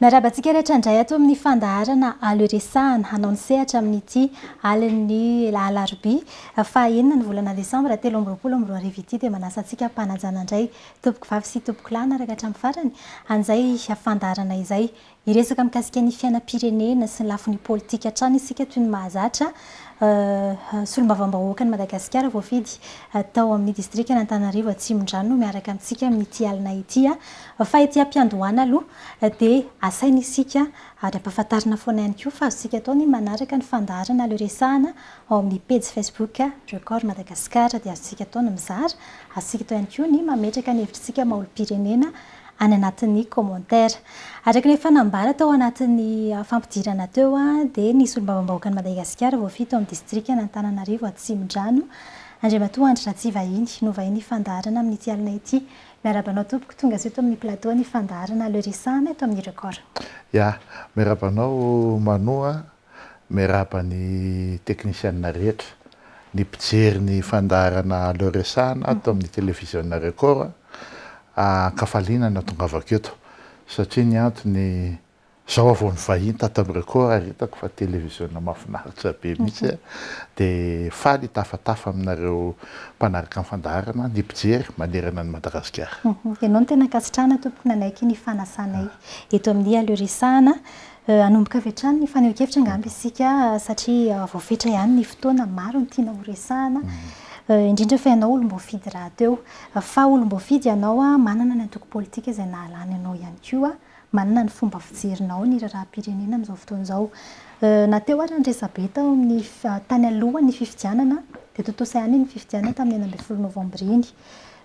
Miarahaba antsika rehetra indray ato amin'ny fandaharana Alo Iresahana. Hanao ny sehatra amin'ity alin'ny alarobia faha enina ny volana desambra telo amby roapolo amby roa arivo ity dia manasa antsika hampanajana indray tompoko vavy sy tompoko lahy hanaraka hatramin'ny farany an'izay fandaharana izay. Hiresaka mikasika ny fiainam-pirenena sy ny lafiny politika hatrany isika toy ny mahazatra solombavambahoakan'i Madagasikara voafidy tao amin'ny distrikan'Antananarivo Atsimondrano no miaraka amintsika amin'ity alina ity. Fa ety am-piandohana aloha dia asaina isika ary ampahafantarina foana ihany koa fa azontsika atao ny manaraka ny fandaharana le resahana ao amin'ny pejy facebook Record Madagascar dia azontsika atao ny mizara, azontsika atao ihany koa ny mametraka ny hevitritsika maha olom-pirenena any anatin'ny commentaire. Araka ny efa nambara tao anatin'ny fampidirana teo dia ny solombavambahoakan'i Madagasikara voafidy tao amin'ny distrikan'Antananarivo Atsimondrano Andriamatoa Andry Ratsivahiny no vahiny hifandaharana amin'ity alina ity Miarahaba anao tompoko, tonga soa eto amin'ny plateau ny fandaharana Le Rissam eto amin'ny Record. Ya, miarahaba anao Manou a, miarahaba ny teknisianina rehetra, ny mpijery ny fandaharana Le Rissam ato amin'ny televiziona Record, ankafaliana ny hahatongavako eto satria ny antony Zao vao nivahiny tato amin'ny Record ary hitako fa televiziona mafinaritra be mihitsy a! de faly hitafatafa aminareo mpanaraka ny fandaharana, ny mpijery manerana an'i Madagasikara. Ianao no tena ankasitrahana tompoko nanaiky ny fanasanay eto amin'ny Aleo Resahana. Hanomboka avy hatrany ny fanehoan-kevitra angamba isika satria vao fetra ihany ny fotoana, maro ny tiana horesahana, indrindra fa ianao olom-boafidy rahateo. Fa olom-boafidy ianao, manana ny antoko politika izay nahalany anao ihany koa. Manina ny fomba fijerinao ny raharaham-pirenena amin'izao fotoana izao. Na teo ary ny resabe tao amin'ny tany alohan'ny fifidianana dia tontosa ihany iny fifidianana tamin'ny enina ambin'ny folo novambra iny.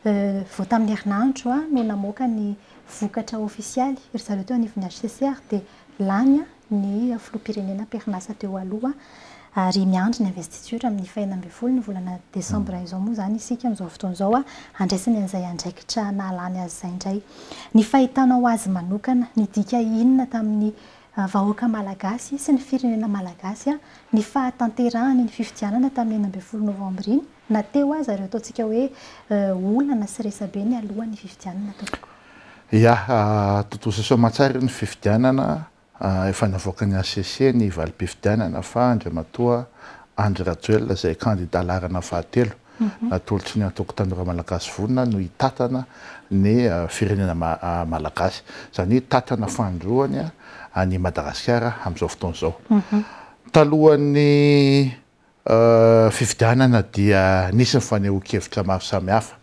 Vao tamin'ny herinandro no namoaka ny vokatra ofisialy ry zareo teo anivon'ny HCCR dia lany ny filoham-pirenena am-perinasa teo aloha ary miandry ny investiture amin'ny fahenina ambin'ny folo ny volana desambra izao moa izany isika amin'izao fotoana izao handraisany an'izay andraikitra nahalany azy izay indray. Ny fahitanao azy manokana, nidika inona tamin'ny vahoaka malagasy sy ny firenena malagasy ny fahatanterahany iny fifidianana tamin'ny enina ambin'ny folo novambra iny na teo aza ireo ataontsika hoe olana sy resabe nialohan'ny fifidianana tompoko? Ia, tontosa soamantsara ny fifidianana, efa navoaka ny HCC ny valim-pifidianana fa Andriamatoa Andry Rajoelina izay kandida laharana fahatelo natolotry ny Antoko Tanora Malagasy Vonona no hitantana ny firenena Malagasy. Izany hoe hitantana fanindroany an'i Madagasikara amin'izao fotoana izao. Talohan'ny fifidianana dia nisy ny fanehoan-kevitra maro samihafa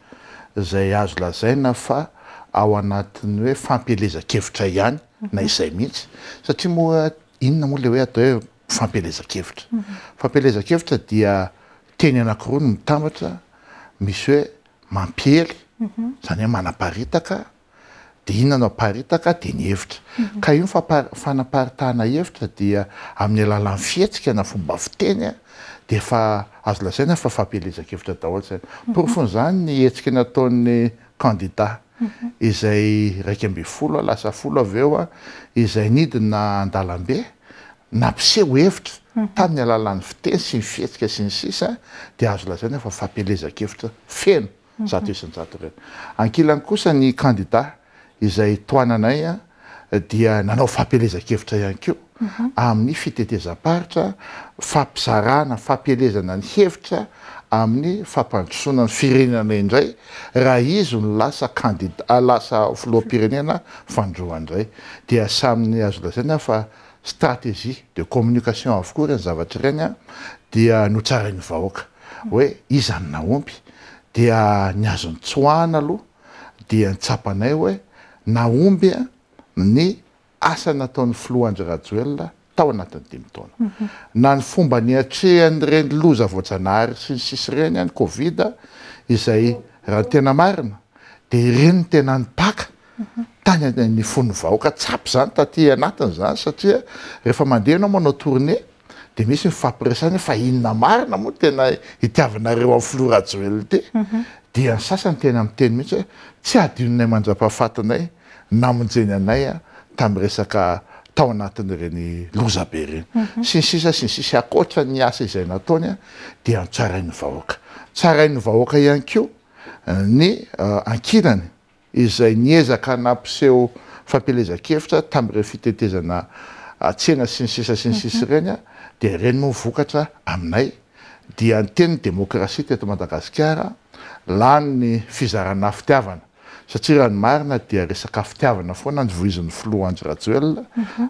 izay azo lazaina fa ao anatin'ny hoe fampielezan-kevitra ihany na izay mihitsy satria moa inona moa ilay hoe atao hoe fampielezan-kevitra? Fampielezan-kevitra dia teny anankiroa no mitambatra, misy hoe mampiely, izany hoe manaparitaka, dia inona no aparitaka dia ny hevitra ka io fanaparitahana hevitra dia amin'ny alalan'ny fihetsika na fomba fiteny dia efa azo lazaina fa fampielezan-kevitra daholo izany. Porofon'izany ny hetsika nataon'ny kandida izay iraika ambin'ny folo lasa folo avy eo izay nidina an-dalambe nampiseho hevitra tamin'ny alalan'ny fiteny sy ny fihetsika sy ny sisa dia azo lazaina fa fampielezan-kevitra feno zato isan-jato ireny. Ankilany kosa ny kandida izay tohananay dia nanao fampielezan-kevitra ihany koa amin'ny fitetezam-paritra, fampizarana, fampielezana ny hevitra amin'ny fampandrosoana ny firenena indray raha izy no lasa kandida, lasa filoham-pirenena fanindroany indray. Dia samy azo lazaina aho fa stratégie de communication avokoa ireny zavatra ireny dia notsarain'ny vahoaka. hoe iza no nahomby dia ny azo nitsoahana aloha dia ny tsapanay hoe nahomby ny asa nataon'ny filoha Andry Rajoelina tao anatin'ny dimy taona. Na ny fomba niatrehan'ireny loza voajanahary sy ny sisa ireny any covid izay raha ny tena marina dia ireny no tena nipaka tany amin'ny fon'ny vahoaka tsapy izany taty anatiny izany satria rehefa mandeha ianao manao tournée Dia misy ny fifampiresahana hoe fa inona marina moa tena hitiavanareo an'i filoha Rajoelina ity? Dia ny sasany tena miteny mihitsy hoe tsy hadinonay mandrapahafatinay namonjeny anay tamin'ny resaka tao anatin'ireny loza be ireny. Sy ny sisa sy ny sisa. Ankoatra ny asa izay nataony dia notsarain'ny vahoaka. Tsarain'ny vahoaka ihany koa ny ankilany. izay niezaka nampiseho fampielezan-kevitra tamin'ireny fitetezana tsena sy ny sisa sy ny sisa ireny dia ireny moa vokatra aminay dia ny tenin'ny demokrasia teto Madagasikara lany ny fizarana fitiavana satria raha ny marina dia resaka fitiavana foana ny voizin'ny filoha Andry Rajoelina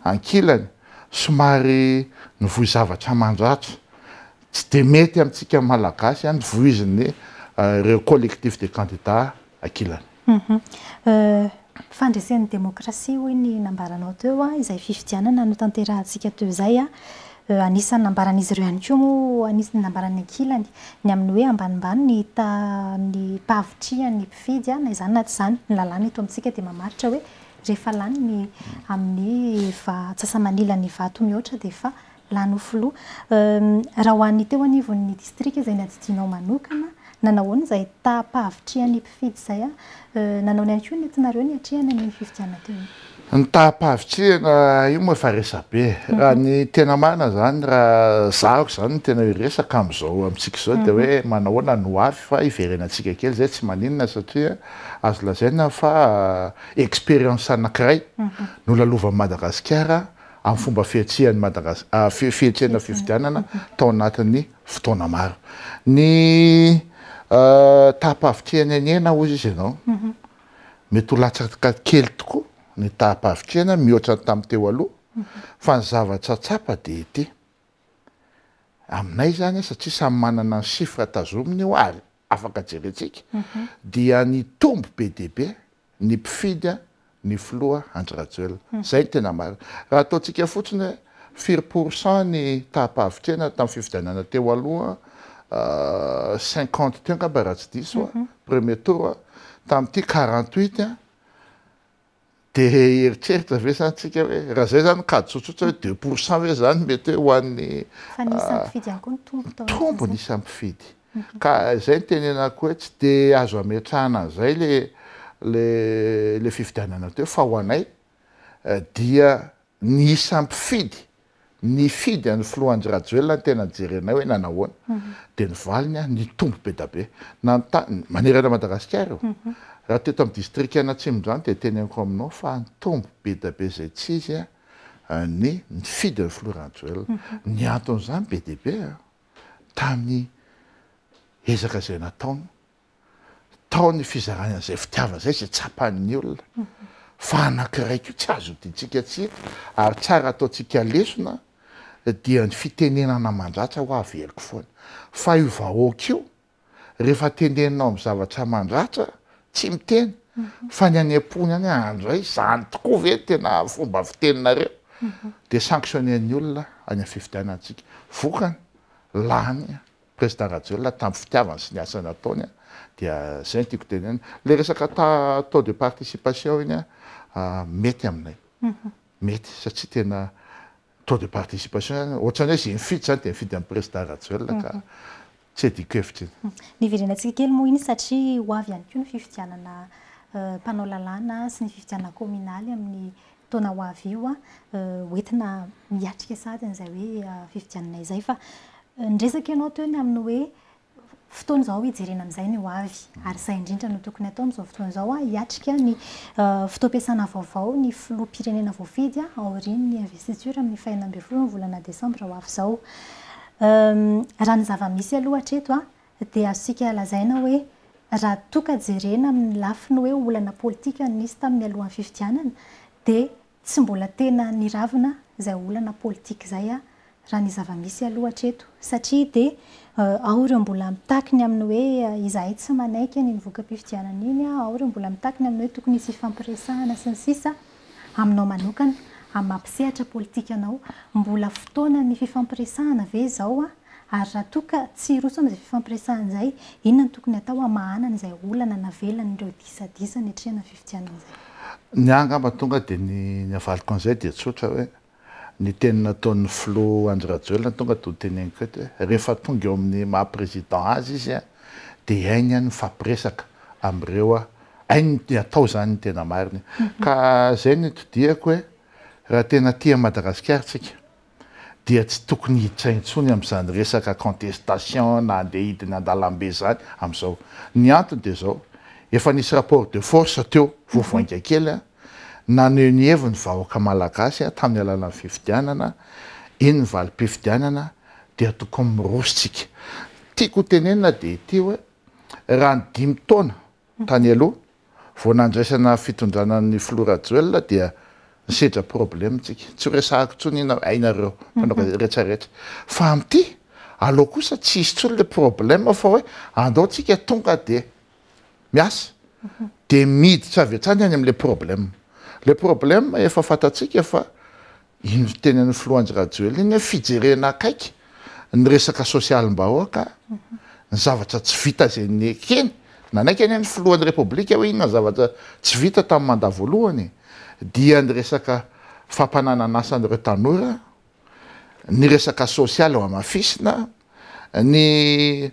ankilany somary nivoy zavatra mandratra Tsy dia mety amintsika Malagasy any vohiziny ireo collectif des candidats ankilany. Fandresen'ny demokrasia hoy ny nambaranao teo izay fifidianana notanterahantsika teo izay. Anisan'ny nambaran'izy ireo ihany koa moa, anisan'ny nambaran'ny ankilany, ny amin'ny hoe ambanimbany ny ny fahavitrihan'ny mpifidy na izany na tsy izany. Ny lalàna eto amintsika dia mamaritra hoe rehefa lany ny amin'ny antsasa-manilan'ny vato mihoatra dia efa Lany ho filoha. Raha ho an'ny teo anivon'ny distrika izay nadidianao manokana, nanao ahoana izay taha-pahavitrihan'ny mpifidy izay? Nanaona ihany koa ny entinareo niatrehana ny fifidianana teo iny. Ny taha-pahavitrihana io moa efa resabe e. Raha ny tena marina izany, raha zahako izany no tena hiresaka amin'izao amintsika izao dia hoe manahoana no ho avy fa hiverenantsika kely izay tsy maninona satria azo lazaina fa expérience anankiray nolalovan'i Madagasikara amin'ny fomba fihetsehan'i Madagas-, fihetsehana fifidianana tao anatin'ny fotoana maro. Ny taham-pahavitrihan'Ainiaina, hoy izy ianao, mety ho latsaka kely tokoa ny taham-pahavitrihana mihoatra ny tamin'ny teo aloha, fa ny zavatra tsapa dia ity, aminay izany, satria samy manana ny chiffres tazominy io ary afaka jerentsika, dia nitombo be dia be ny mpifidy an ny filoha Andry Rajoelina. Izay no tena marina. Raha ataontsika fotsiny hoe firy pour cent ny taham-pahavitrihana tamin'ny fifidianana teo aloha an, cinquante teo angamba raha tsy diso an, premier tour an, tamin'ity quarante huit an, dia hieritreritra ve izany isika hoe raha izay izany kajy tsotsotra hoe deux pour cent ve izany mety hoe ho an'ny. Fa ny isan'ny mpifidy ihany koa no tompony tao anatin'izay. Tompony isan'ny mpifidy. Ka izay no tenenako hoe tsy dia azo ametrahana an'izay ilay fifidianana teo fa ho anay dia ny isan'ny mpifidy nifidy an'i Filoha Andry Rajoelina no tena jerenay hoe nanao ahoana. Dia ny valiny nitombo be dia be. Nanontany, manerana Madagasikara io. Raha teto amin'ny distrikan'Atsimondrano dia teneniko aminao fa nitombo be dia be izay tsy izy ny nifidy an'i Filoha Rajoelina. Ny anton'izany be dia be. tamin'ny ezaka izay nataony, tao ny fizarany an'izay fitiavana izay, izay tsapan'ny olona fa anankiray koa tsy azo hodintsika tsiny ary tsara ataontsika lesona dia ny fitenenana mandratra hoa averiko foana fa io vahoaka io rehefa tendeninao amin'ny zavatra mandratra tsy miteny fa ny any am-pony any hoe andray izany tokoa ve ny tena fomba fiteninareo dia sanctionner-ny olona any amin'ny fifidianantsika. Vokany, lany Président Rajoelina tamin'ny fitiavany sy ny asa nataony dia izay no tiako tenenina. Ilay resaka taux de participation iny mety aminay. Mety satria tena Taux de participation, ohatrany hoe zay mifidy zany dia mifidy an'i Prezda Rajoelina ka tsy adiko hevitra iny. Niverenantsika kely moa iny satria ho avy ihany koa ny fifidianana mpanao lalàna sy ny fifidianana kaominaly amin'ny taona ho avy io. Ho entina miatrika sahady an'izay hoe fifidianana izay fa niresaka ianao teo ny amin'ny hoe fotoana izao hijerena amin'izay ny ho avy. Ary izay indrindra no tokony hatao amin'izao fotoana izao, hiatrika ny fotoam-piasana vaovao ny filoham-pirenena voafidy aorian'ny investiture amin'ny fahenina ambin'ny folo ny volana desambra ho avy izao. Raha ny zava-misy aloha hatreto dia azontsika lazaina hoe raha toa ka jerena amin'ny lafiny hoe olana politika nisy tamin'ny alohan'ny fifidianana dia Tsy mbola tena niravina izay olana politika izay aho raha ny zava-misy aloha hatreto satria dia ao ireo mbola mitaky ny amin'ny hoe izahay tsy manaiky an'iny voka-pifidianana iny, ao ireo mbola mitaky ny amin'ny hoe tokony hisy hifampiresahana sy ny sisa Aminao manokana, amin'ny maha mpisehatra politika anao, mbola fotoanan'ny fifampiresahana ve izao an? Ary raha toa ka tsy hiroso amin'izay fifampiresahana izay, inona no tokony hatao hamahanana izay olana navelan'ireo disadisa niatrehana ny fifidianana izay? Ny ahy angamba tonga dia ny ny havaliko an'izay dia tsotra hoe, ny teny nataon'ny filoha Andry Rajoelina tonga dia ho teneniko eto hoe, rehefa tonga eo amin'ny maha président azy izy dia hainy ny mifampiresaka amin'ireo, hainy ny atao izany ny tena marina e! Ka izay no itodihako hoe, raha tena tia an'i Madagasikara isika, dia tsy tokony hiditra intsony amin'izany resaka contestation na andeha hidina an-dalambe izany amin'izao. Ny antony dia izao, efa nisy rapport de force teo vao vainga kely, naneho ny heviny ny vahoaka malagasy tamin'ny alalan'ny fifidianana, iny ny valim-pifidianana dia tokony miroso tsika. Tiako ho tenenina dia ity hoe, raha ny dimy taona Tany aloha, vao nandraisana fitondrana ny filoha Rajoelina dia nisedra problème tsika. Tsy ho resahako intsony iny aho, hainareo mpanao gazety rehetra rehetra. Fa amin'ity, aleo kosa tsy hisy intsony ilay problème fa hoe andao tsika tonga dia miasa. Dia miditra avy hatrany any amin'ilay problème. Ilay problème efa fantatsika fa Iny nitenenan'i Filoha Andry Rajoelina iny hoe fijerena akaiky ny resaka sosialim-bahoaka, ny zavatra tsy vita izay nekeny, nanaiky anie ny Filohan'ny Repoblika hoe inona ny zavatra tsy vita tamin'ny mandat voalohany, dia ny resaka fampananan'asa an'ireo tanora, ny resaka sosialy hohamafisina, Ny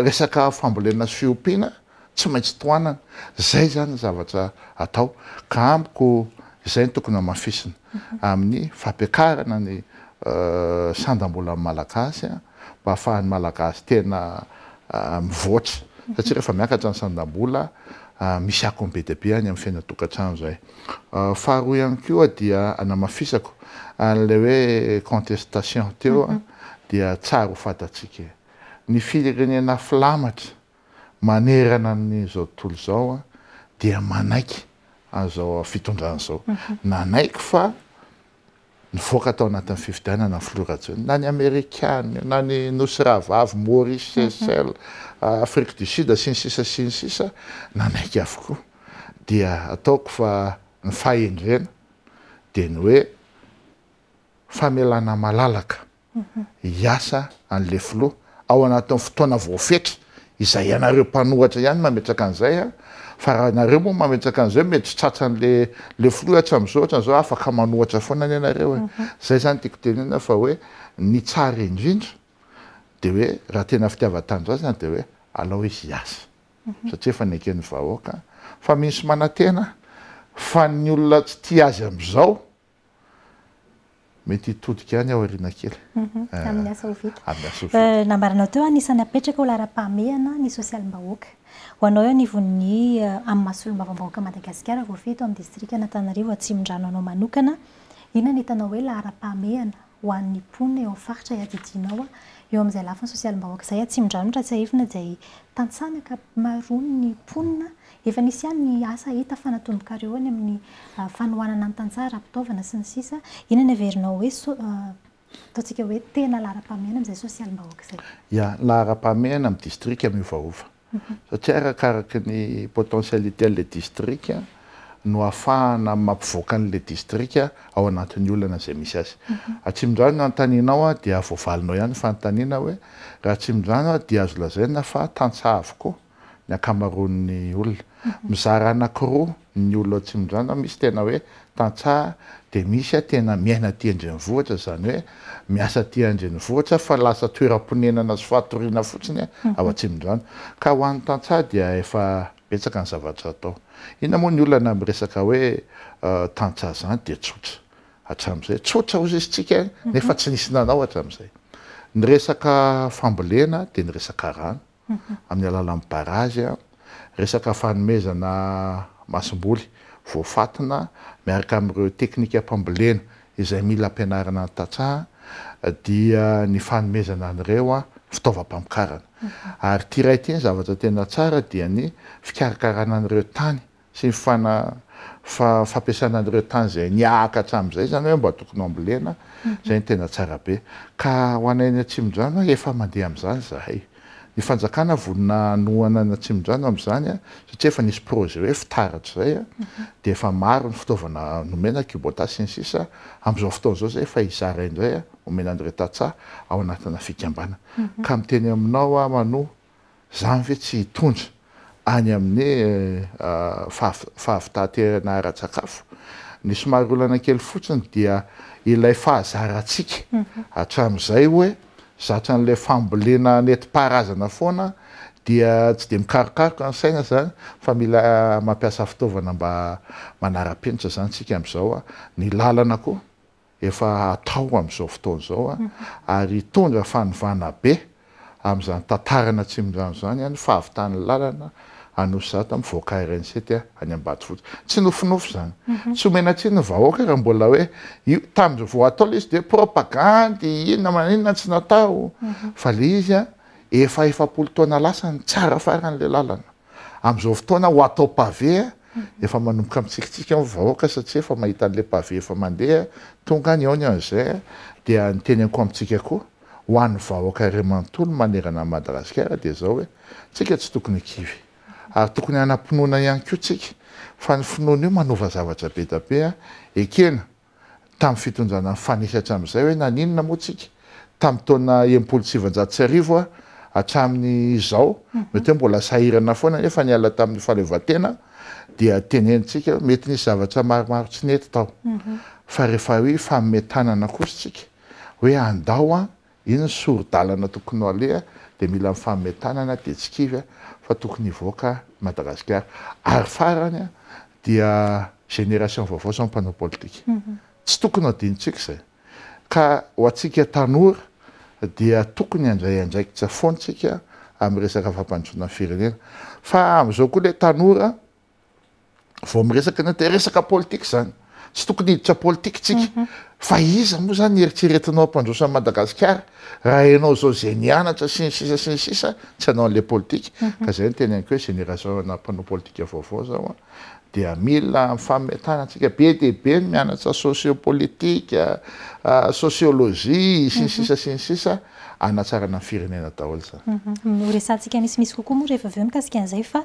resaka fambolena sy fiompiana tsy maintsy tohanana. Izay izany ny zavatra atao. Ka amiko izay no tokony hamafisina amin'ny fampiakarana ny sandam-bolan'ny Malagasy mba hahafahan'ny Malagasy tena mivoatra. Satria rehefa miakatra ny sandam-bola, misy akony be dia be any amin'ny fiainana an-tokantrano izay. Faharoa ihany koa dia anamafisako an'ilay hoe contestation teo dia tsara ho fantatsika e! Ny firenena filamatra manerana an'izao tontolo izao dia manaiky an'izao fitondrana izao. Nanaiky fa. nivoaka tao anatin'ny fifidianana ny filoha Rajoelina, na ny Amerikana io, na ny Nosy Rahavavy, Maurice, Seychelles, Afrique du Sud, sy ny sisa sy ny sisa, nanaiky avokoa. Dia ataoko fa ny fahendrena dia ny hoe famelana malalaka hiasa any le filoha ao anatin'ny fotoana voafetra izay ianareo mpanoratra ihany mametraka an'izay a fa raha nareo moa mametraka an'izay mety tsy tratran'le le filoha hatram'izao hatran'izao afaka manohatra foana anie nareo e zay zany tiako tenena fa hoe ny tsara indrindra de hoe raha tena fitiavan-tanindrazana de hoe alao izy hiasa satria efa neken'ny vahoaka fa misy manantena fa ny olona tsy tia azy am'izao Mety hitodika any aho aoriana kely. Mhm. Eh, amin'ny asa ho vita. Amin'ny asa ho vita. Eh, nambaranao teo, anisan'ny apetraka ho laharam-pahamehana ny sosialim-bahoaka. Ho anao eo anivon'ny eh, amin'ny maha solombavambahoaka Madagasikara voafehy eto amin'ny distrikan'Antananarivo Atsimondrano anao manokana, inona no hitanao hoe laharam-pahamehana ho an'ny mponina eo amin'ny faritra iadidianao. Eo amin'izay lafiny sosialim-bahoaka izay, Atsimondranotra, tsiahivina izay tantsaha ny ankamaroan'ny mponina. Efa nisy ihany ny asa hita fa natomboka eo any amin'ny fanohanana ny tantsaha ara-pitaovana sy ny sisa. Inona no heverinao hoe ataontsika hoe tena laharam-pahamehana amin'izay sosialim-bahoaka izay? Ia, laharam-pahamehana amin'ny distrika miovaova. satria arakaraky ny potentialite an'ilay distrika no ahafahana mampivoaka an'ilay distrika ao anatin'ny olana izay misy azy. Atsimondrano ny anontanianao dia voavalinao ihany ny fanontaniana hoe, raha Atsimondrano aho dia azo lazaina fa tantsaha avokoa ny ankamaroan'ny olona. Mizara anankiroa ny olona tsinondrana misy tena hoe tantsaha dia misy a tena miaina aty an-drenivohitra izany hoe miasa aty an-drenivohitra fa lasa toeram-ponenana sy fatoriana fotsiny a ao an-tsinondrana ka ho an'ny tantsaha dia efa betsaka ny zavatra atao inona moa ny olana amin'ny resaka hoe tantsaha izany dia tsotra hatramin'izay tsotra hozisitsika nefa tsy nisy nanao hatramin'izay ny resaka fambolena dia ny resaka rano amin'ny alalan'ny barazy, resaka fanomezana masomboly voafantina miaraka amin'ireo teknikam-pambolena izay mila ampianarana ny tantsaha dia ny fanomezana an'ireo fitaovam-pamokarana. Ary ity iray ity, ny zavatra tena tsara dia ny fikarakarana an'ireo tany sy ny fana fa fampiasana an'ireo tany izay niahaka hatramin'izay izany hoe mba tokony hambolena, izay no tena tsara be. Ka ho anay any Atsimondrano efa mandeha amin'izany izahay. Ny fanjakana vonona hanohana an'i Atsimondrano amin'izany satria efa nisy projet hoe fitaratra izay dia efa maro ny fitaovana nomena, Kubota sy ny sisa Amin'izao fotoana izao izay efa hizara indray, homena an'ireo tantsaha ao anatina fikambanana. Ka miteny aminao aho manoa. Zany ve tsy hitondra any amin'ny fahavitaterana ara-tsakafo? Ny somary olana kely fotsiny dia ilay fahazarantsika hatramin'izay hoe zatra an'ilay fambolena nentim-paharazana foana dia tsy dia mikarokaroka ny saina zany fa mila mampiasa fitaovana mba manara-penitra zany tsika amin'izao. Ny lalana koa efa atao amin'izao fotoana izao ary hitondra fanovana be amin'izany tantaran'ny Atsimondrano izany ny fahavitan'ny lalana Anosizato mivoaka RN7 any Ambatofotsy. Tsy nofinofy izany. Tsy omena tsiny ny vahoaka raha mbola hoe io tamin'ny vao atao ilay izy dia propagandy inona maninona tsy natao fa ilay izy efa efapolo taona lasa ny tsara faran'ilay lalana. Amin'izao fotoana ho atao pavé efa manomboka mitsikitsiky ao ny vahoaka satria efa mahita an'ilay pavé efa mandeha, tonga ny aony an'izay dia ny teneniko amintsika koa ho an'ny vahoaka iray manontolo manerana an'i Madagasikara dia izao hoe tsika tsy tokony ho kivy ary tokony hanam-pinoana ihany koa tsika fa ny finoana io manova zavatra be dia be ekena tamin'ny fitondrana ny fanefy hatramin'izay hoe naninona moa tsika tamin'ny taona enimpolo sy sivinjato sy arivo hatramin'ny izao mety hoe mbola sahirana foana nefa niala tamin'ny fahaleovantena dia tenenitsika hoe mety nisy zavatra maromaro tsy nety tao fa rehefa hoe hifanome tanana kosa tsika hoe andao an Iny ny sori-dalana tokony ho aleha dia mila ny fanome tanana dia tsy kivy fa tokony hivoaka i Madagasikara. Ary farany dia génération vaovao sy ny mpanao politika. Tsy tokony ho adinontsika izay. Ka ho antsika tanora dia tokony handray andraikitra foana isika amin'ny resaka fampandrosoana ny firenena. Fa amin'izao koa ilay tanora vao miresaka ny atao resaka politika izany. Tsy tokony hiditra politika isika. Mhm. Fa iza moa izany eritreretinao hampandroso an'i Madagasikara raha ianao izao izay nianatra sy ny sisa sy ny sisa tsy hanao an'ilay politika. Mhm. Ka izay no teneniko hoe génération ana mpanao politika vaovao izao a dia mila fametana antsika be dia be ny mianatra sociopolitika, ah, sociologie sy ny mhm. sisa sy ny sisa anatsarana ny firenena daholo izany. Horesantsika mhm. misimisy kokoa moa rehefa avy eo mikasika an'izay fa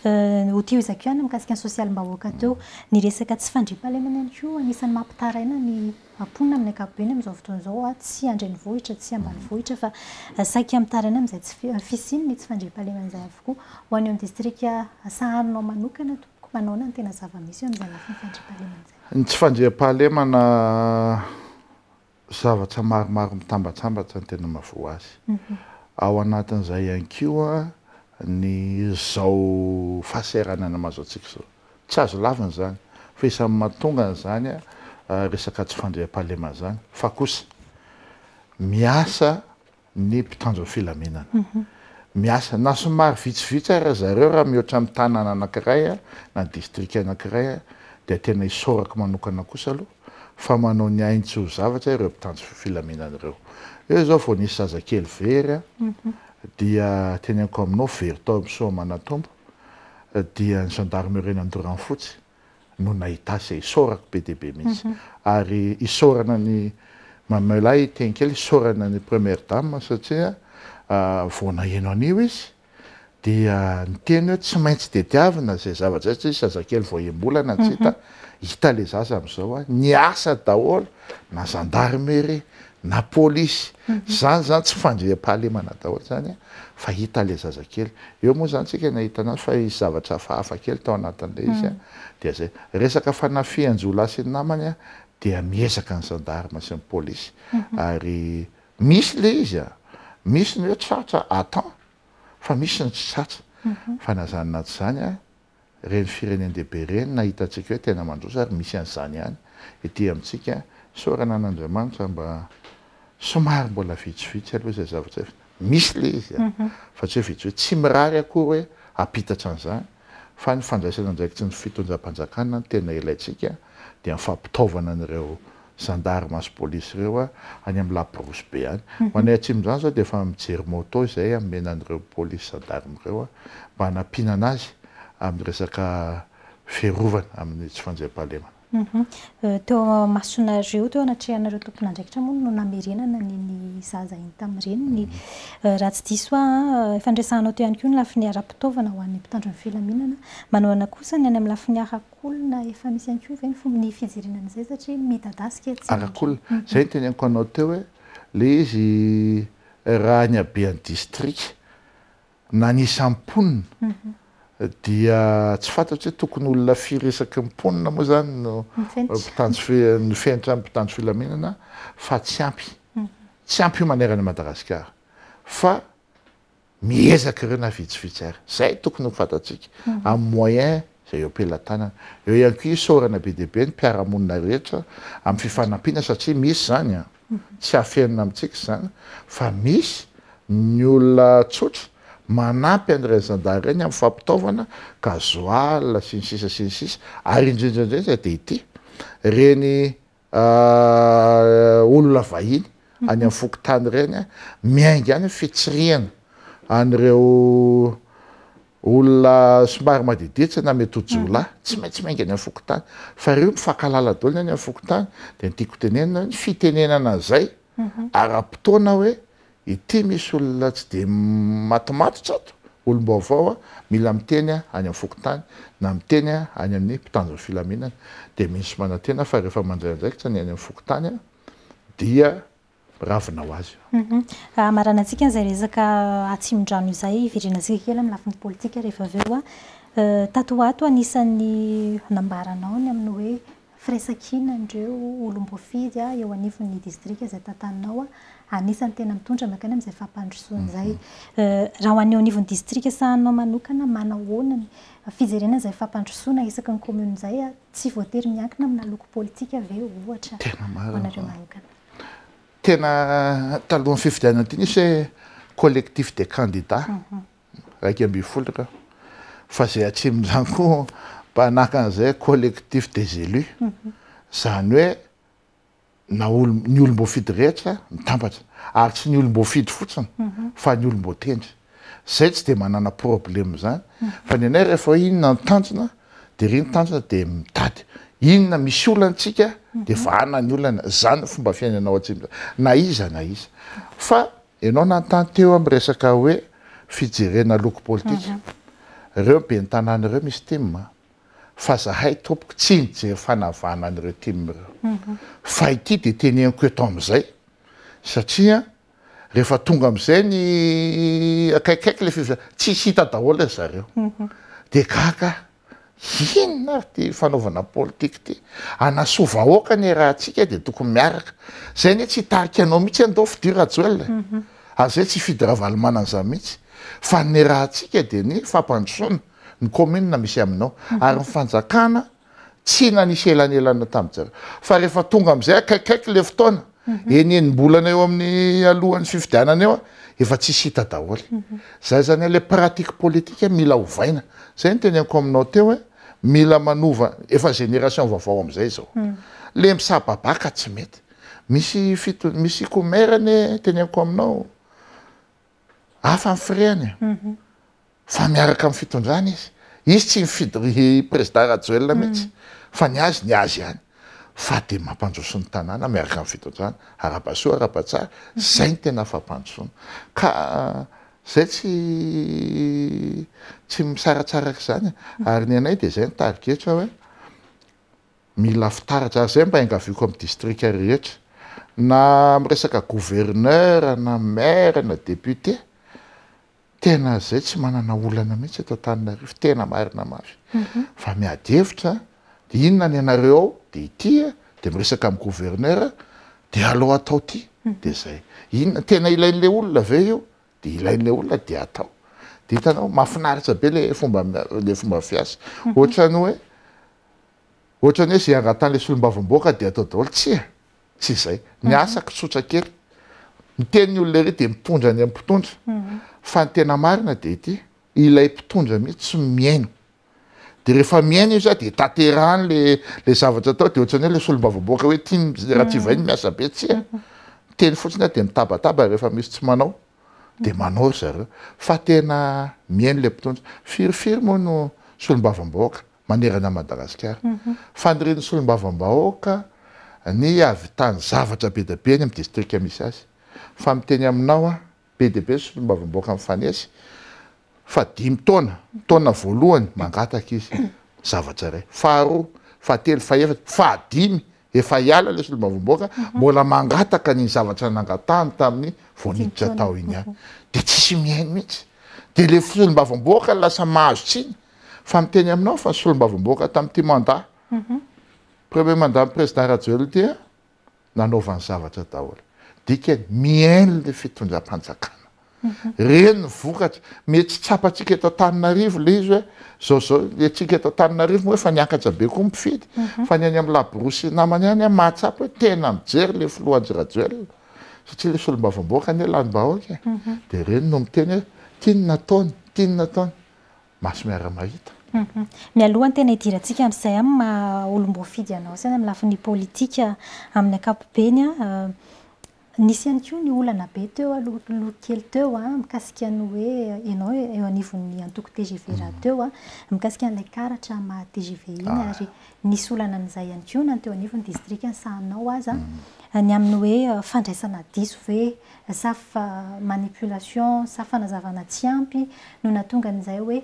Ho tohizako ihany ny mikasika ny sosialim-bahoaka teo. Ny resaka tsy fandriampahalemana ihany koa anisan'ny mampitaraina ny mponina amin'ny ankapobeny amin'izao fotoana izao. Tsy an-drenivohitra, tsy ambanivohitra fa saika mitaraina amin'izay tsy fi- fisiany ny tsy fandriampahalemana izay avokoa. Ho any amin'ny distrika sahaninao manokana tompoko, manaona ny tena zava-misy eo amin'izay lafiny fandriampahalemana izay? Ny tsy fandriampahalemana zavatra maromaro mitambatsambatra no tena mahavoa azy. Ao anatin'izay ihany koa ny izao fahasahiranana mahazo antsika izao. Tsy azo lavina izany fa isan'ny mahatonga an'izany resaka tsy fandriampahalemana izany fa kosa miasa ny mpitandro filaminana miasa na somary vitsivitsy ara zareo raha mihoatra ny tanàna anankiray na distrika anankiray dia tena isaorako manokana kosa aloha fa manao ny ainy tsy ho zavatra ireo mpitandro filaminana ireo eo izao vao nisy zazakely very dia teneniko aminao very tao amin'ny soamanatombo dia ny gendarmerie nandoro anfotsy no nahita se isaorako be dia be mihitsy ary isaorana an'i Mamelay hiteny kely isaorana an'i Première Dame satria vao naheno an'io izy dia niteny hoe tsy maintsy tediavina izay zavatra izay satria zazakely vao enim-bolana tsy hita hita ilay zaza amin'izao a, niasa daholo na zandarimeria na polisy zany zany tsy fandriampahalemana daholo zany a fa hita le zazakely eo moa zany tsika nahita anazy fa hisy zavatra hafahafa kely tao anatin'le izy a dia zay resaka fanafihan-jiolahy sy ny namany a dia miezaka ny gendarme sy ny polisy ary misy le izy a misy ny hoe tratra attend fa misy ny tsy tratra fa na zany na tsy zany a Ireny firenen-dehibe ireny na hitantsika hoe tena mandroso ary misy an'izany ihany ety amintsika, isaorana an'Andriamanitra mba somary mbola vitsivitsy aloha izay zavatra izay, misy ilay izy an, fa tsy hoe vitsivitsy, tsy mirary akory hoe hampitatra an'izany, fa ny fandraisana andraikitry ny fitondram-panjakana no tena ilaintsika, dia ny fampitaovana an'ireo Gendarmes sy police ireo any amin'ny laporosy be any. Ho anay atsimon'izany izao dia efa mijery moto izay hamena an'ireo police gendarmes ireo mba hanampianana azy amin'ny resaka fiarovana amin'ny tsy fanjaimpahalemana. Teo amasonareo, teo anatrehanareo tompon'andraikitra moa no namerenana an'iny zaza iny tamin'ny reniny. Raha tsy diso ahy, efa niresahanao teo ihany koa ny lafiny ara-pitaovana ho an'ny mpitandro ny filaminana. Manohana kosa ny any amin'ny lafiny ara-. olona efa misy ihany koa ve ny fomba ny fijerena an'izay satria midadasika tsy arak'olona izay ny teneniko anao teo hoe ilay izy raha ny habean'ny distrika na ny isan'ny mponina dia tsy fantatro hoe tokony olona firy isaky ny mponina moa izany no ny fenitra mpitandro filaminana fa tsy ampy tsy ampy io manerana an'i Madagasikara fa miezaka ireo na vitsivitsy ary. Izay tokony ho fantatsika, amin'ny moyen izay eo am-pelatanana. Eo ihany koa isaorana be dia be ny mpiara-monina rehetra amin'ny fifanampiana satria misy izany an! tsy afenina amintsika izany fa misy ny olona tsotra manampy an'ireny zandary ireny amin'ny fampitaovana, gasoil sy ny sisa sy ny sisa ary indrindra indrindra dia ity, ireny Aah olona vahiny any am fokontany ireny a miainga any fitsirihana an'ireo olona somary madiditsy na mety ho jiolahy tsy maintsy miainga any am fokontany fa ireo mifankalala daholo ny any am fokontany dia ny tiako tenenina hoe ny fitenenana izay ara potoana hoe Ity misy olona tsy dia matomatotra ato, olom-baovao a, mila miteny any amin'ny fokontany na miteny any amin'ny mpitandro ny filaminana dia misy manantena fa rehefa mandray andraikitra ny any amin'ny fokontany dia miravona ho azy. Hamaranantsika izay resaka Atsimondrano izay, hiverenantsika kely amin'ny lafiny politika rehefa avy eo. Tato ho ato anisan'ny nambaranao ny amin'ny hoe Firaisankina an'ireo olom-boafidy eo anivon'ny distrika izay tantaninao anisan'ny tena mitondra mankany amin'izay fampandrosoana izay. Raha ho an'ny eo anivon'ny distrika sahaninao manokana, manao ahoana ny fijerena an'izay fampandrosoana isaky ny kaominina izay? Tsy voatery miankina amina loko politika ve, ohatra, ho anareo manokana? Tena talohan'ny fifidianana ity nisy hoe collectif des candidats iraika ambin'ny folo ka fa zay atsimon'izany koa mpanaka an'izay collectif des élus izany hoe na ny olom-boafidy rehetra mitambatra ary tsy ny olom-boafidy fotsiny mhm. fa ny olom-boatendry zay tsy dia manana problème zany mhm. fa ny anay rehefa inona ny tanjona dia ry ny tanjona dia mitady inona misy olantsika dia vahana ny olana zany fomba fiainanao atsimo na iza na iza fa Ianao nanontany teo amin'ny resaka hoe fijerena loko politika ireo ben'ny tanàna ireo misy tim a. Fa zahay tompoko tsy nijery fanavahana an'ireo tim ireo. Fa ity dia teneniko eto amin'izay satria rehefa tonga amin'izay ny akaikikaiky ilay fifidianana, tsisy hita daholo ry zareo. Dia gaga aho. Inona ary ty fanaovana politika ty? Hanasoa vahoaka anie raha atsika dia tokony miaraka. Zay anie tsy hitarika anao mihitsy anie ndao fidio Rajoel e. Ary zay tsy hifidy Ravalomanana zany mihitsy. Fa ny raha atsika dia ny fampandrosoana ny commune misy aminao. Ary ny fanjakana tsy nanisy elanelana taminjareo. Fa rehefa tonga amizay akaikikaiky le fotoana. enim-bolana eo amin'ny alohan'ny fifidianana eo efa tsisy hita daholo. Izay izany hoe ilay pratique politique mila ovaina. Izay no teneniko aminao teo hoe mila manova, efa génération vaovao amin'izay izao. Ilay misababaka tsy mety. Misy fito, misy comer anie teneniko aminao, hafa ny frais-ny e. Fa miaraka amin'ny fitondrana izy. Izy tsy mifidy ry prezida Rajoelina mihitsy fa ny azy ny azy ihany. Fa dia mampandroso ny tanàna miaraka amin'ny fitondrana. Arabasoa arabatsara. Izay no tena fampandrosoana. Ka izay tsy tsy misaratsaraka izany e. Ary ny anay dia izay no tarigetra hoe mila fitaratra. Ary izay mba iangaviako amin'ny distrika rehetra. Na miresaka gouverneur na maire na député. Tena zay tsy manana olana mihitsy eto Antananarivo tena marina mafy fa miady hevitra de inona ny anareo ao de ity de miresaka amin'ny gouverneur de aleo atao ity de zay inona tena ilain'le olona ve io de ilain'le olona de atao de hitanao mafinaritra be le fomba le fomba fiasa ohatran'ny hoe ohatran'ny hoe ze angatahan'le solombavamboaka de atao daholo tsia Tsy izay. Ny asako tsotra kely. Miteny ny olona irery dia mitondra ny an'ny mpitondra. Fa ny tena marina dia ity, ilay mpitondra mihitsy tsy mihaino. Dia rehefa mihaino izy an, dia tanterahany ilay zavatra atao, dia ohatran'ny hoe ilay solombavambahoaka hoe tian'i Ratsivainy ny miasa be. Tsia. Miteny fotsiny an, dia mitabataba rehefa misy tsy manao. Dia manao ry zareo. Fa tena mihaino ilay mpitondra. Firy firy moa no solombavambahoaka. manerana an'i Madagasikara. Fanirian'ny solombavambahoaka ny hahavitany zavatra be dia be any amin'ny distrika misy azy. Fa miteny aminao aho, be dia be ny solombavambahoaka mifanesy fa dimy taona, taona voalohany mangataka izy zavatra iray, faharoa, fahatelo, fahefatra, fahadimy, efa hiala ilay solombavambahoaka, mbola mangataka ny zavatra nangatahany tamin'ny vao niditra tao iny ihany. Dia tsisy mihaino mihitsy. Dia ilay solombavambahoaka no lasa mahazo tsiny. Fa miteny aminao fa solombavamboaka tamin'ity mandat premier mandat ny président Rajoelina ity an, nanaovany zavatra daholo. Dikany mihaino ilay fitondram-panjakana. Ireny ny vokatra. Mety tsy tsapantsika eto Antananarivo ilay izy hoe izao izao ny antsika eto Antananarivo moa efa niakatra be koa ny mpifidy. Fa ny any amin'ny laborosy namany any an, mahatsapa hoe tena mijery ilay filoha Andry Rajoelina. Satria ilay solombavamboaka anie lanim-bahoaka e. Dia ireny no miteny hoe ity no nataony, ity no nataony. maso miara-mahita. Mialoha ny tena hidirantsika amin'izay amin'ny maha olom-boafidy anao saina amin'ny lafiny politika amin'ny ankapobeny, nisy ihany koa ny olana be teo aloha kely teo mikasika ny hoe ianao eo anivon'ny antoko tgv rahateo, mikasika an'ilay karatra maha tgv iny ary nisy olana an'izay ihany koa na ny teo anivon'ny distrikan'ny sahanao aza, ny amin'ny hoe fandraisana diso ve sa fa manipulation sa fanazavana tsy ampy no nahatonga an'izay hoe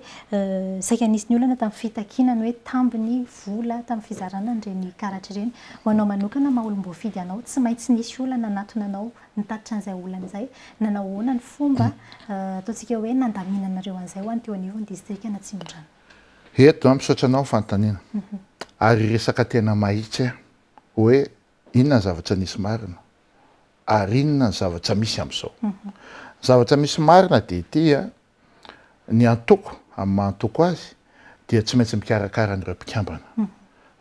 saika nisy ny olana tamin'ny fitakiana ny hoe tambiny, vola, tamin'ny fizarana an'ireny karatra ireny. Ho anao manokana maha olom-boafidy anao, tsy maintsy nisy olana nanatona anao nitatitra an'izay olana izay. Nanao ahoana ny fomba ataontsika hoe nandaminanareo an'izay ho any teo anivon'ny distrikan'i Atsimondrano? Eto, misaotra anao ny fanontaniana. Ary resaka tena mahitsy aho hoe Inona ny zavatra nisy marina ary inona ny zavatra misy amin'izao? Ny zavatra misy marina dia ity a, ny antoko amin'ny maha antoko azy dia tsy maintsy mikarakara an'ireo mpikambana.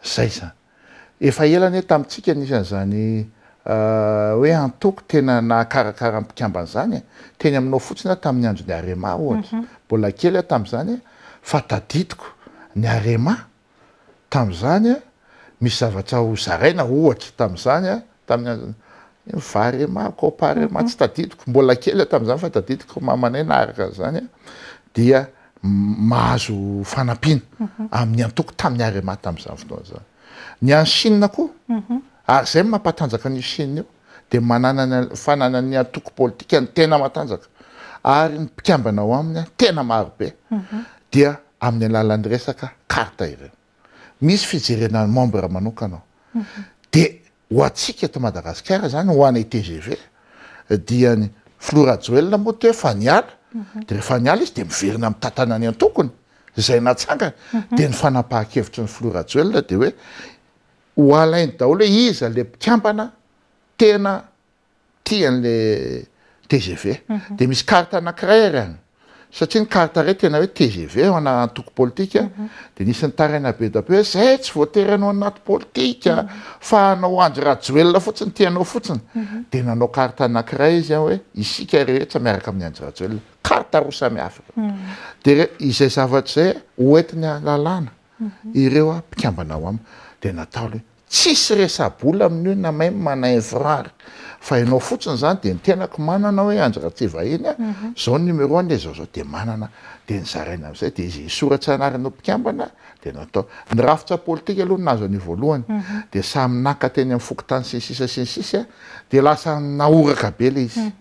Izay izany. Efa ela anie tamintsika nisy an'izany hoe antoko tena nahakarakara ny mpikambana izany e. Teny aminao fotsiny aho tamin'ny andron'ny Arema ohatra. Mbola kely aho tamin'izany fa tadidiko ny Arema tamin'izany, misy zavatra ho zaraina ohatra tamin'izany, tamin'ny Varema, Coparema, tsy tadidiko, mbola kely aho tamin'izany fa tadidiko ry mamanay naharaka an'izany, dia mahazo fanampiana amin'ny antoko tamin'ny Arema tamin'izany fotoana izany. Ny an'i Chine koa, ary izay no mampatanjaka an'io Chine io, dia mananany fananany antoko politikany tena matanjaka ary ny mpikambana ao aminy tena maro be dia amin'ny alalan'ny resaka carte ireo. Misy fijerena ny membre manokana ao. Dia ho antsika eto Madagasikara izany, ho anay tgv, dia ny filoha Rajoelina moa toa efa niala, dia rehefa niala izy dia miverina mitantana ny antokony izay natsangany. Dia ny fanapahan-kevitry ny filoha Rajoelina dia hoe Ho alainy daholo hoe iza ilay mpikambana tena tia an'ilay tgv. Dia misy carte anankiray ary any, satria ny carte iray tena hoe tgv ao ana antoko politika, dia nisy nitaraina be dia be hoe zay tsy voatery hanao anaty politika fa hanao Andry Rajoelina fotsiny tia anao fotsiny. Dia nanao carte anankiray izy hoe isika rehetra miaraka amin'ny Andry Rajoelina. Carte roa samihafa ireo. Dia izay zavatra izay hoentiny halalana. ireo a mpikambana ao am dia natao le tsisy resabola amin io na même na infrar fa ianao fotsiny zany dia ny tenako manana hoe andry ratsivahiny a zao ny numéro ny zao zao dia manana dia nizaraina amizay dia izy hisoratsa anarana ho mpikambana dia natao ny rafitra politika aloha nahazo anio voalohany dia samy naka teny am fokontany sy ny sisa sy ny sisa a dia lasa nahoraka be le izy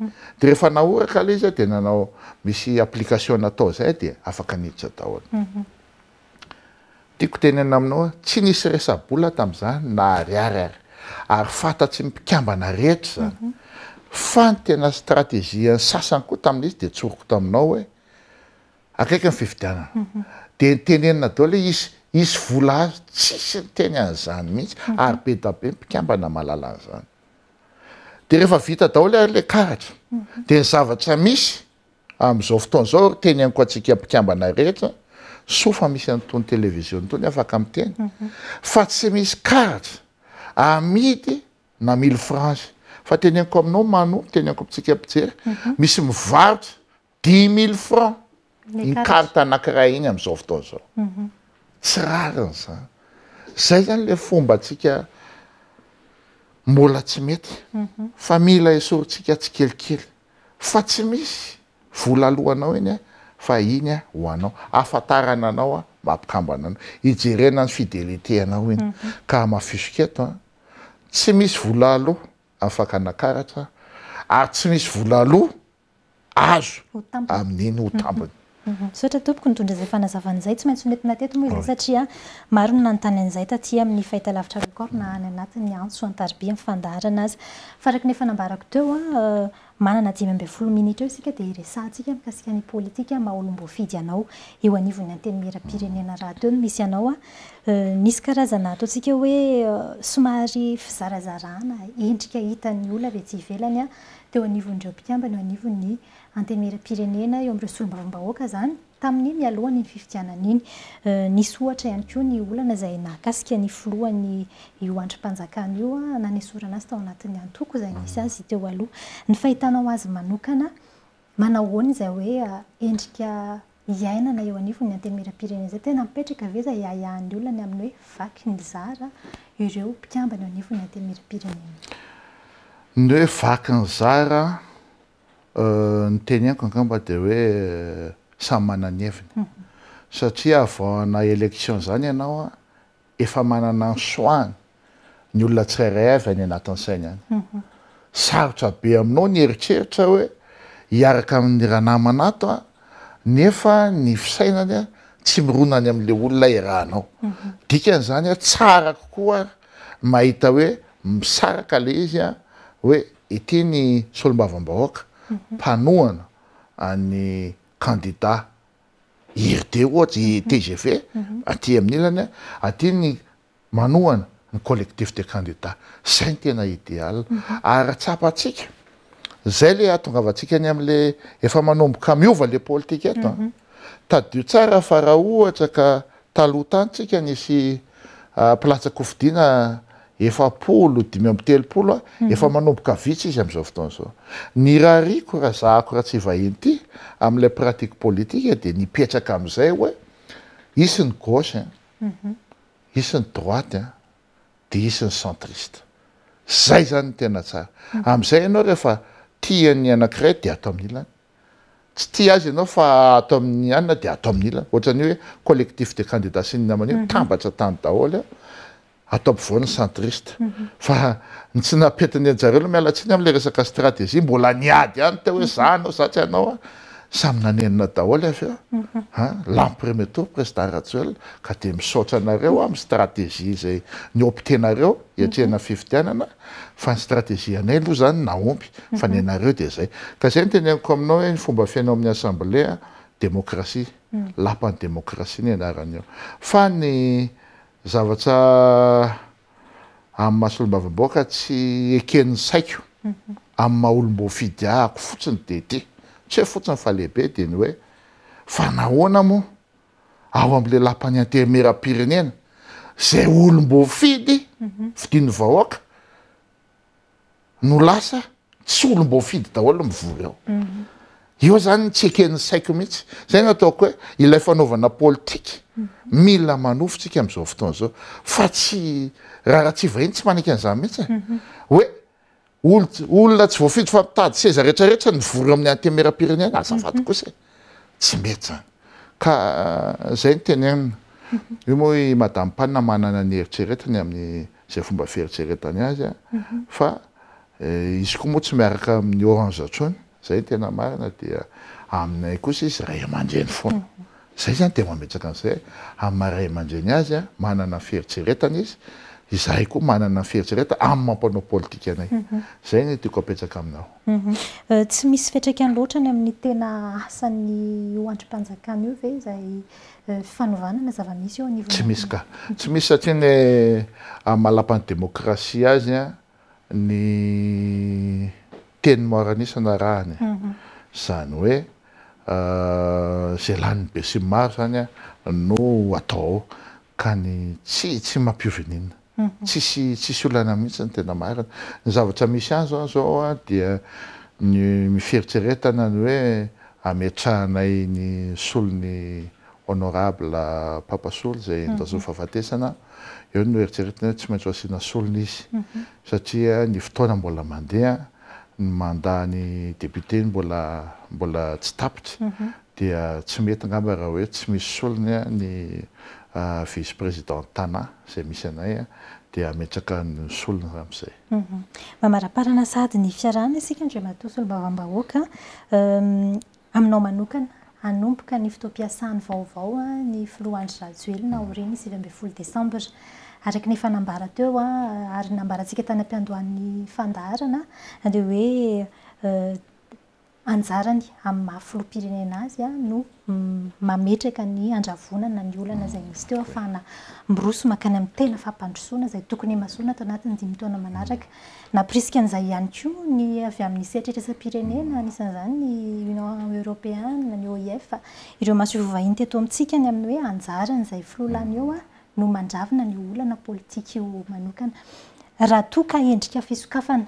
dia rehefa nahoraka le izy a dia nanao misy application natao zay dia afaka niditra daholo. Tiako tenenina aminao hoe tsy nisy resa-bola tamin'izany na ariary ary. Ary fantatry ny mpikambana rehetra izany. Fa ny tena strategian'ny sasany koa tamin'izy dia tsoriko taminao hoe akaiky ny fifidianana. Dia nitenenina daholo hoe hisy hisy vola azo. Tsisy niteny an'izany mihitsy ary be dia be ny mpikambana mahalala an'izany. Dia rehefa vita daholo ary ilay karatra dia ny zavatra misy Amin'izao fotoana izao ry teny ankoatsika mpikambana rehetra soa fa misy an'itony televiziona itony afaka miteny fa tsy misy karatra amidy na mille francs fa teneniko aminao Mano teny ankoatsika mpijery misy mivarotra dix mille francs iny karatra anankiray iny amin'izao fotoana izao tsy rariny izany izay izany ilay fomba antsika mbola tsy mety fa mila esorintsika tsikelikely fa tsy misy vola alohanao iny fa iny ho anao ahafantarana anao mba mpikambana anao hijerena ny fidelite anao iny ka hamafisiko eto tsy misy vola aloha amin'ny fakana karatra ary tsy misy vola aloha azo amin'iny ho tambiny. Misaotra tompoko nitondra izay fanazavana izay, tsy maintsy honentina teto moa izay satria maro no nanontany an'izay taty amin'ny fahitalavitra Record na any anatin'ny antso an-tariby amin'ny fandaharana aza. Fa araka ny efa nambarako teo, manana dimy ambin'ny folo minitra eo isika dia hiresahantsika mikasika ny politika maha olom-boafidy anao eo anivon'ny Antenimieram-pirenena rahateo no misy anao. Misy karazana ataontsika hoe somary fizarazarana endrika hitan'ny olona avy aty ivelany teo anivon'ireo mpikambana eo anivon'ny Antenimieram-pirenena eo amin'ireo solombavambahoaka izany tamin'iny mialohan'iny fifidianana iny. Nisy ohatra ihany koa ny olana izay nahakasika ny filohan'io andrim-panjakana io, nanesorana azy tao anatin'ny antoko izay nisy azy teo aloha. Ny fahitanao azy manokana, manao ahoana izay hoe endrika iainana eo anivon'ny Antenimieram-pirenena izay? Tena mipetraka ve izay ahiahin'ny olona ny amin'ny hoe vaky ny zara ireo mpikambana eo anivon'ny Antenimieram-pirenena? Ny hoe vaky ny zara Ny teneniko angamba dia hoe samy manana ny heviny. Satria avant hanao élection izany ianao efa manana ny choix-ny ny olona tsirairay avy any anatin'ny sainy any. Sarotra be aminao ny eritreritra hoe hiaraka amin'ny ranamana ato aho nefa ny fisainany tsy mirona any amin'ilay olona iarahanao. Dikan'izany tsara kokoa mahita hoe misaraka ilay izy hoe Ity ny solombavambahoaka mpanohana an'i kandida IRD ohatra, i tgv aty amin'ny ilany a, aty ny manohana ny collectif des candidats. Izay no tena ideal. Ary raha tsapantsika, izay ilay ahatongavantsika any amin'ilay efa manomboka miova ilay politika eto a. Tadidio tsara fa raha ohatra ka taloha tany tsika nisy mpilatsa-kofidina efapolo dimy amby telopolo a, efa manomboka vitsy izy amin'izao fotoana izao. Ny rariko raha zahako raha tsy vahiny ity amin'ilay pratique politique dia nipetraka amin'izay hoe hisy ny gauche a, hisy ny droite a, dia hisy ny centriste. Izay izany no tena tsara. Amin'izay ianao rehefa tia ny anankiray dia ato amin'ny ilany. Tsy tia azy ianao fa ato amin ny anona dia ato amin ilana. Ohatrany hoe collectif des candidats sy ny namany io mitambatra tany daholo ato ampovoan ny centriste. Fa ny tsy napetin ny anjareo aloha miala tsiny amin ilay resaka stratégie mbola niady ihany teo hoe za anao za tsy anao a. Samy nanenina daholo avy eo a. Lany premier tour president Rajoelina ka dia misaotra anareo amin ny stratégie izay nioptenareo. hiatrehana fifidianana fa ny strategie-anay aloha izany nahomby fa ny anareo dia izay. Ka izay no teneniko aminao hoe ny fomba fiainao amin'ny assemblée demokrasia, lapan'ny demokrasia ny anarany eo. Fa ny zavatra amin'ny maha solombavambahoaka tsy eken'ny saiko amin'ny maha olom-boafidiahako fotsiny dia ity, tsy hoe fotsiny fa lehibe dia ny hoe fa nahoana moa ao amin'ilay lapan'ny antenimieram-pirenena izay olom-boafidy fidin'ny vahoaka no lasa tsy olom-boafidy daholo mivory ao. Io izany tsy eken'ny saiko mihitsy. Izay no ataoko hoe ilay fanaovana politika mila manofintsika amin'izao fotoana izao fa tsy raharaha tsy vahiny tsy manaiky an'izany mihitsy. Hoe Olona tsy voafidy fa mitady seza rehetra rehetra nivory eo amin'ny antemeram-pirenena azafady kosa e! Tsy mety zany. Ka zay no tenenina. Io moa i Madame Pan manana ny eritreretiny amin'izay fomba fieritreretany azy fa izy koa moa tsy miaraka amin'ny orange intsony. Zay ny tena marina dia aminay kosa izy ray aman-dreny foana. Zay zany dia mametraka an'izay amin'ny maha ray aman-dreny azy aho, manana fieritreretana izy, izahay koa manana ny fieritreretana amin'ny maha mpanao politika anay. Zay ny tiako apetraka aminao. Tsy misy fiantraikany loatra ny amin'ny tena asan'io andrim-panjakana io ve izay fanovana na zava-misy eo anivon'ny. Tsy misy ka. Tsy misy satria ny amin'ny maha lapan'ny demokrasia azy ny teny maro an'isa narahany e! izany hoe izay lanin'ny besinimaro izany no atao ao ka ny tsy tsy mampioveninina tsisy tsisy olana mihitsy ny tena marina ny zavatra misy azy aho izao dia ny mifieritreretana ny hoe ametrahanay ny solon'ny Honorable Papa Soly izay enda zo fahafatesana, eo no eritreretina hoe tsy maintsy ho asiana solony izy satria ny fotoana mbola mandeha, ny mandat ny député mbola mbola tsy tapitra dia tsy mety angamba raha hoe tsy misy solony ny vice président Tana izay misy anay dia hametraka ny solony ramizay. Mamaraparana sahady ny fiarahana isika Andriamatoa Solombavambahoaka, Aminao manokana, hanomboka ny fotoam-piasany vaovao ny filoha Andry Rajoelina aorian'ny sivy ambin'ny folo desambra. Araka ny efa nambara teo ary nambarantsika tany am-piandohan'ny fandaharana dia hoe anjarany amin'ny maha filoham-pirenena azy no mametraka ny handravonana ny olana izay nisy teo ahafahana miroso mankany amin'ny tena fampandrosoana izay tokony himasoana ato anatin'ny dimy taona manaraka. Nampirisika an'izay ihany koa ny avy amin'ny sehatra iraisam-pirenena, anisan'izany ny Union Europeana, ny OIF, ireo masoivoho vahiny teto amintsika ny amin'ny hoe anjaran'izay filoha lany eo no mandravina ny olana politika io manokana. Raha toa ka endrika fisokafana,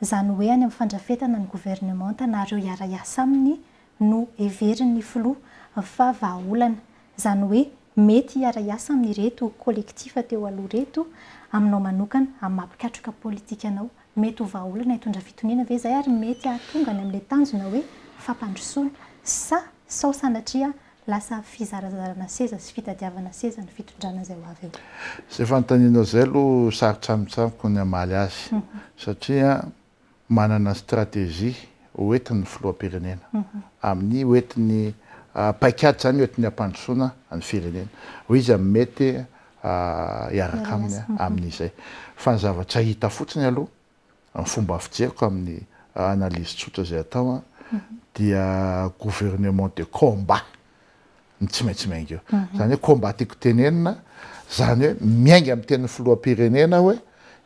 izany hoe any amin'ny fandrafetana ny governemanta na ireo hiara-hiasa aminy, no heverin'ny filoha fa vahaolana, izany hoe mety hiara-hiasa amin'ireto collectif teo aloha ireto aminao manokana amin'ny maha-mpikatroka politika anao. Mety ho vahaolana hitondra fitoniana ve izay ary mety hahatonga any amin'ilay tanjona hoe fampandrosoana sa sao sanatria lasa fizarazarana seza sy fitadiavana seza ny fitondrana izay ho avy eo? Izay fanontanianao izay aloha sarotra amiko ny hamaly azy satria manana stratégie hoentin'ny filoham-pirenena amin'ny hoentin'ny paikady izany hoentin'ny hampandrosoana ny firenena hoe iza no mety hiaraka aminy amin'izay fa ny zavatra hita fotsiny aloha ny fomba fijeriko amin'ny analyse tsotra izay atao dia gouvernement de combat ny tsy maintsy miainga eo izany hoe combat tiako tenenina izany hoe miainga amin'ny tenin'ny filoham-pirenena hoe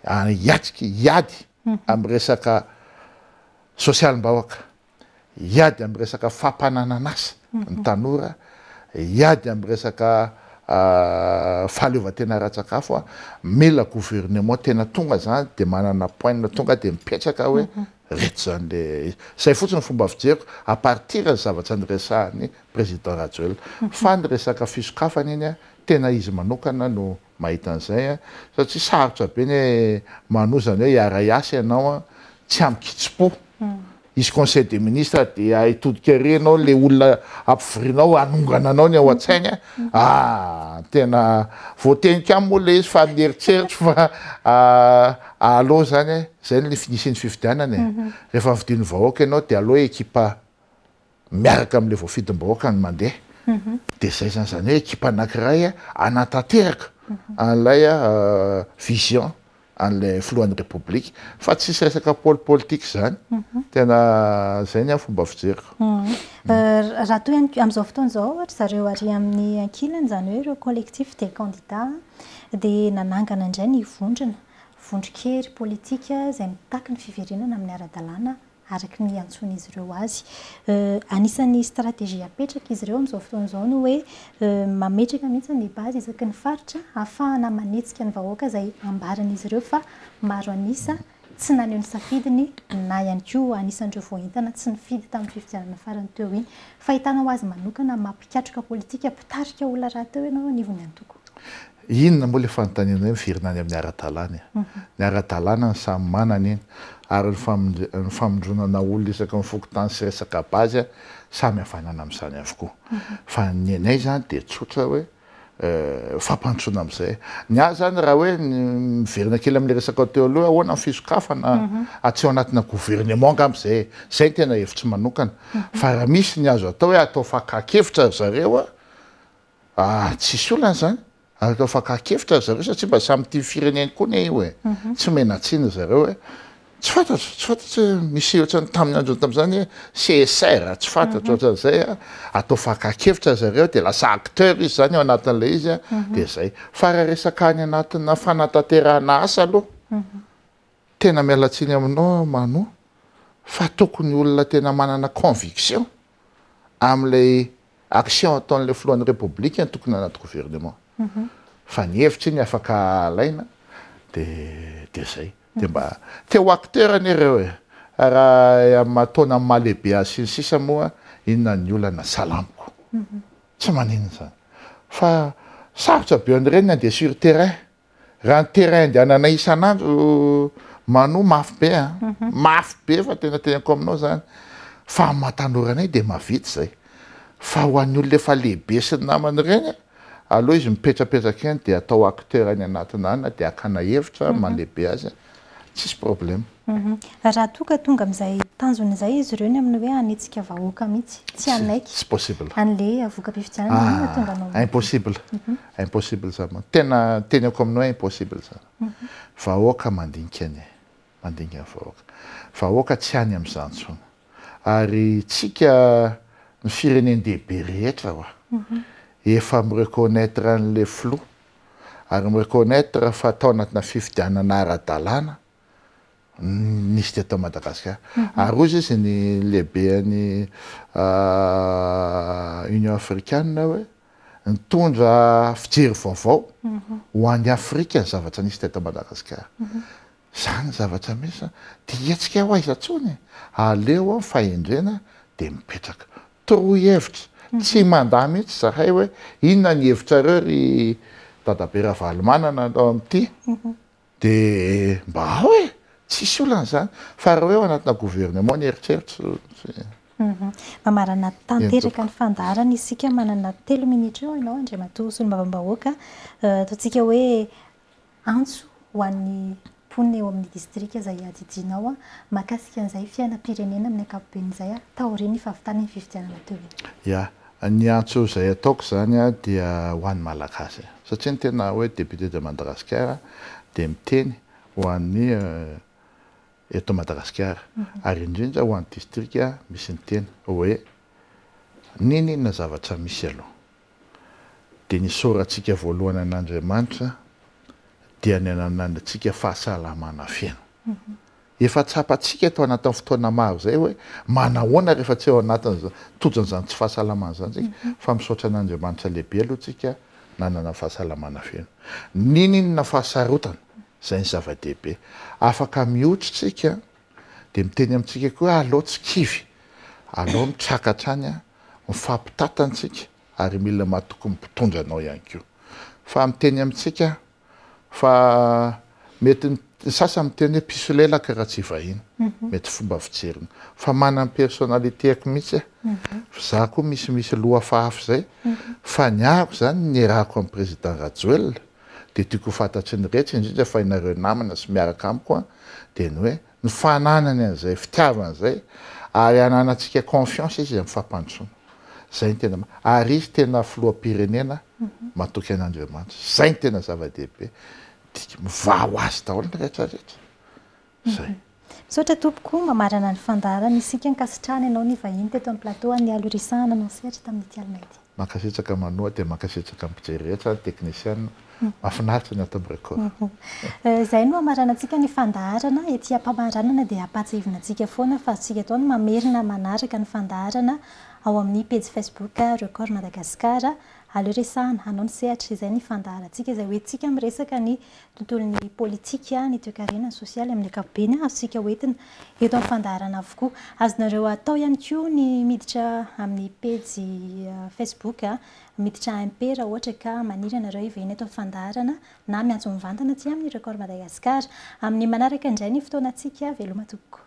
hiatrika hiady amin'ny resaka sosialim-bahoaka, hiady amin'ny resaka fampananan'asa ny tanora, hiady amin'ny resaka fahaleovantena ara-tsakafo, mila gouvernement tena tonga izany dia manana poinina tonga dia mipetraka hoe reto izany le izy. Izay fotsiny ny fomba fijeriko à partir ny zavatra niresahan'ny président Rajoelina. Fa ny resaka fisokafana iny tena izy manokana no mahita an'izay a, satria sarotra be ny hoe manohy izany hoe hiara-hiasa ianao a, tsy amin-kitsim-po, hisy conseil des ministres dia hitodika ery ianao, ilay olona ampivorinao hanongana anao ny ao an-tsainy a, ah! tena voatenika aminy moa ilay izy fa ny eritreritro fa ah! aleo izany e, izay ny fisian'ny fifidianana e, rehefa nofidian'ny vahoaka ianao dia aleo ekipa. miaraka amin'ilay voafidim-bahoaka ny mandeha, dia izay izany, izany hoe ekipa anankiray hanatanteraka an'ilay vision an'ilay filohan'ny Repoblika, fa tsisy resaka pôly politika izany, tena izay ny ahy fomba fijeriko. Raha toa ihany koa, amin'izao fotoana izao ohatra, ry zareo ary amin'ny ankilany, izany hoe ireo collectif des candidats, dia nanangana indray ny vondrona, vondron-kery politika izay mitaky ny fiverenana amin'ny ara-dalàna araka ny iantsoan'izy ireo azy. Anisan'ny stratégie apetrak'izy ireo amin'izao fotoana izao ny hoe mametraka mihitsy ny base isaky ny faritra hahafahana manetsika ny vahoaka izay ambaran'izy ireo fa maro an'isa tsy naneho ny safidiny na ihany koa anisan'ireo voaentana tsy nifidy tamin'ny fifidianana farany teo iny. Fahitana ho azy manokana mampikatroka politika mpitarika olona rahateo ianao anivon'ny antoko? Inona moa ilay fanontanianao hoe miverina any amin'ny ara-dalàna e? Ny ara-dalàna ny samy manana iny ary ny famindra-ny famindronana olona isaky ny fokontany sy resaka base samy havanana amin'izany avokoa. Fa ny anay izany dia tsotra hoe fampandrosoana amin'izay. Ny ahy izany raha hoe miverina kely amin'ilay resakao teo aloha hoe ahoana ny fisokafana aty ao anatina gouvernement angamba izay e. Izay ny tena hevitro manokana. Fa raha misy ny azo atao hoe atao fakan-kevitra ry zareo a! Ah, tsisy olana zany. Aleo afakakevitra ry zareo satria mba samy tia fireneny koa ne io e. Tsy omena tsiny ry zareo e. Tsy fantatro, tsy fantatro hoe misy ohatrany tamin'ny androny tamin'izany hoe CSR, tsy fantatro ohatran'izay a. Atao fakakevitra ry zareo dia lasa acteur izy zany ao anatin'ilay izy a, dia zay. Fa raha resaka any anatina fanatanterahana asa aloha. Tena miala tsiny aminao aho Mano fa tokony olona tena manana conviction amin'ilay action ataon'ilay filohan'ny Repoblika no tokony anaty gouvernement. Mhm. Fa ny hevitra iny afaka alaina dia dia zay. Dia mba te ho acteur anie ireo e! Raha amin'ny maha taona amin'ny maha lehibe azy sy ny sisa moa inona ny olana? Salamiko. Mhm. Tsy maninona izany. Fa sarotra be an'ireny ny handeha sur terrain. Raha ny terrain andehananay isan'andro Manu mafy be a, mhm. mafy be fa tena tenako aminao zany fa amin'ny maha-tanoranay dia mahavita izay. Fa ho an'ny olona efa lehibe sy ny namany ireny aleo izy mipetrapetraka eny dia atao acteur any anatin'any na dia hakana hevitra mhm. mandehibe azy. Tsisy problème. Raha toa ka tonga amin'izay tanjona izay izy ireo ny amin'ny hoe hanetsika vahoaka mihitsy, tsy hanaiky. Tsy possible. An'ilay voka-pifidianana, inona no hahatonga anao ho. Impossible. Impossible izany mantsy. Tena teneniko amin'ny hoe impossible izany. Vahoaka mandinika ny ahy. Mandinika ny vahoaka. Vahoaka tsy any amin'izany intsony. Ary isika, ny firenen-dehibe rehetra ho'a, efa mi-reconnaitre an'ilay filoha, ary mi-reconnaitre fa tao anatina fifidianana ara-dalàna no nisy teto Madagasikara. Ary hoy izy ny lehiben'ny Union africaine hoe nitondra fijery vaovao ho an'i Afrika ny zavatra nisy teto Madagasikara. Izany ny zavatra misy. Dia hetsika ho aiza intsony e! Aleo fahendrena dia mipetraka. Torohevitra, tsy mandà mihitsy izahay hoe inona ny hevitrareo ry Dadabe Ravalomanana ao amin'ity dia mba ao e! tsisy olana izany fa raha hoe ao anatina gouvernement ny eritreritro. Mamarana tanteraka ny fandaharana isika manana telo minitra eo ianao Andriamatoa Solombavambahoaka, ataontsika hoe Antso ho an'ny mponina eo amin'ny distrika izay iadidianao mahakasika an'izay fiainam-pirenena amin'ny ankapobeny izay taorian'ny fahavitan'ny fifidianana teo iny. Ya, ny antso izay ataoko izany dia ho an'ny Malagasy satria ny tena hoe député de Madagascar dia miteny ho an'ny eto Madagasikara ary indrindra ho an'ny distrika misy ny tena hoe n'inon'inona zavatra misy aloha dia ny isaorantsika voalohany an'Andriamanitra dia ny ananantsika fahasalamana feno. Efa tsapantsika eto anatin'ny fotoana maro izay hoe manahoana rehefa tsy ao anatin'ny tojon'izany tsy fahasalamana izany isika, fa misaotra an'Andriamanitra lehibe aloha isika nanana fahasalamana feno. N'inon'inona fahasarotana, izay ny zava-dehibe. Afaka mihotra isika Dia miteny amintsika koa hoe alao tsy kivy, alao ny traka hatrany an, mifampitata ntsika ary mila matoky ny mpitondra anao ihany koa. Fa miteny amintsika fa mety ny sasany miteny hoe mpisolelaka raha tsy vahiny, mety fomba fijeriny. Fa manana ny personnalitéako mihitsy aho, fa za koa misy misy lohafahafa izay, fa ny ahako izany ny nierahako an'i Président Rajoelina, dia tiako ho fantatry ny rehetra indrindra fa ianareo namana sy miaraka amiko dia ny hoe ny fananany an'izay fitiavana izay ary ananantsika confiance izy amin'ny fampandrosoana izay ny tena ary izy tena filoham-pirenena matoky an'Andriamanitra izay ny tena zava-dehibe tiako mivaha ho azy daholo ny rehetra rehetra Zay. Misaotra tompoko, mamarana ny fandaharana isika, ankasitrahana ianao nivahiny teto amin'ny plateau an'ny Alo Resahana anao sehatra tamin'ity alina ity. Mankasitraka manoa dia mankasitraka ny mpijery rehetra, ny teknisiana, mafinaritra ny ato amin'ny Record. Izay no hamaranantsika ny fandaharana, ety ampamaranana dia ampahatsiahivina antsika foana fa azontsika atao ny mamerina manaraka ny fandaharana ao amin'ny pejy Facebook Record Madagascar, Alo Resahana anao ny sehatra, izay ny fandaharantsika izay hoentintsika miresaka ny tontolon'ny politika, ny toekarena, ny sosialy amin'ny ankapobeny, azontsika ho entina eto amin'ny fandaharana avokoa. Azonareo atao ihany koa ny miditra amin'ny pejy Facebook Miditra MP raha ohatra ka maniry anareo hivahiny eto amin'ny fandaharana na miantso mivantana aty amin'ny Record Madagascar. Amin'ny manaraka indray ny fotoanantsika. Veloma tompoko.